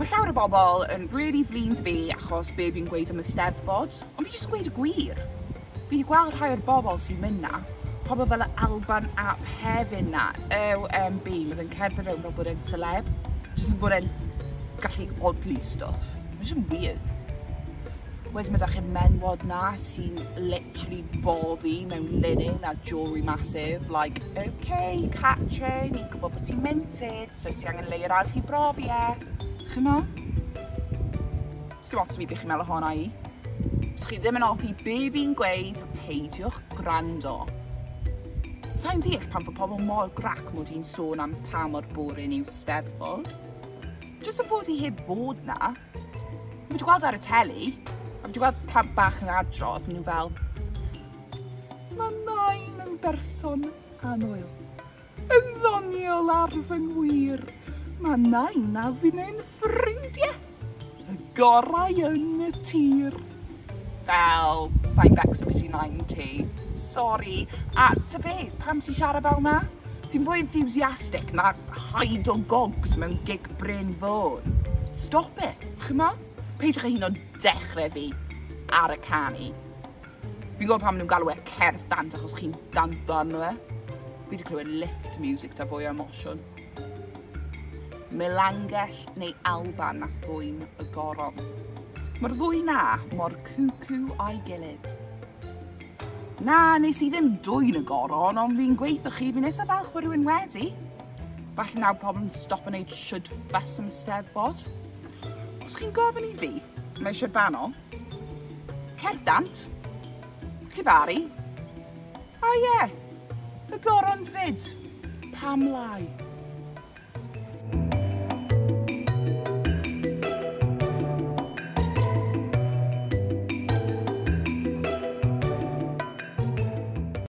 Mae llawer o bobl yn really flin 'da fi achos be fi'n gweud am y Steddfod, ond fi jyst yn gweud y gwir. Fi 'di gweld rhai o'r bobl sy'n mynd 'na, pobl fel y Alban ap Hefin 'na, OMB, ma' fe'n cerdded rownd fel bod e'n seleb, jyst yn bod e'n gallu odli stwff. Ma' jyst yn weird. Wedyn ma' 'da chi'r men'wod 'na sy'n literally boddi mewn linen a jewellery massive, like, ok Catrin, ni'n gwbod bo' ti'n minted, So ti angen layer arall i brofi e, chimo? Sdim ots fi be chi'n meddwl ohona i. Os chi ddim yn offi be fi'n gweud, peidiwch gwrando. Sa'n deall pan bod pobl mor grac mod i'n sôn am pa mor boring yw Steddfod. Jyst yn bod i heb fod na. Mae wedi gweld ar y teli, a wedi gweld plant bach yn adrodd, maen nhw fel, mae nain yn berson anoel. Yn ddoniol ar fy ngwir, mae Nain a Finnau'n ffrindiau! Y gorau yn y tir! Fel, sai'n becso beth sy'n Nain ti. Sori. A ta beth, pam ti'n siarad fel 'na? Ti'n fwy enthusiastic na Hyde o Gogs mewn gig Brên Fôn. Stop it, chimod? Peidiwch â hyd yn oed dechrau fi ar y canu. Fi'n gwybod pam nhw'n galw e cerdd dant achos chi'n danto arno fe. Fi wedi clywed lift music da fwy o emosiwn. Melangell neu Alban na thwyn y goron. Mae'r ddwy na mor cwcw a'i gilydd. Na, nes i ddim dwy'n y goron, ond fi'n gweithio chi, fi'n eitha falch fod rhywun wedi. Falle nawr pobl yn stop yn neud siwd ffas am steddfod. Os chi'n gofyn i fi, mae eisiau banol, Cerddant? Llefaru? O ie! Y goron 'fyd! Pam lai?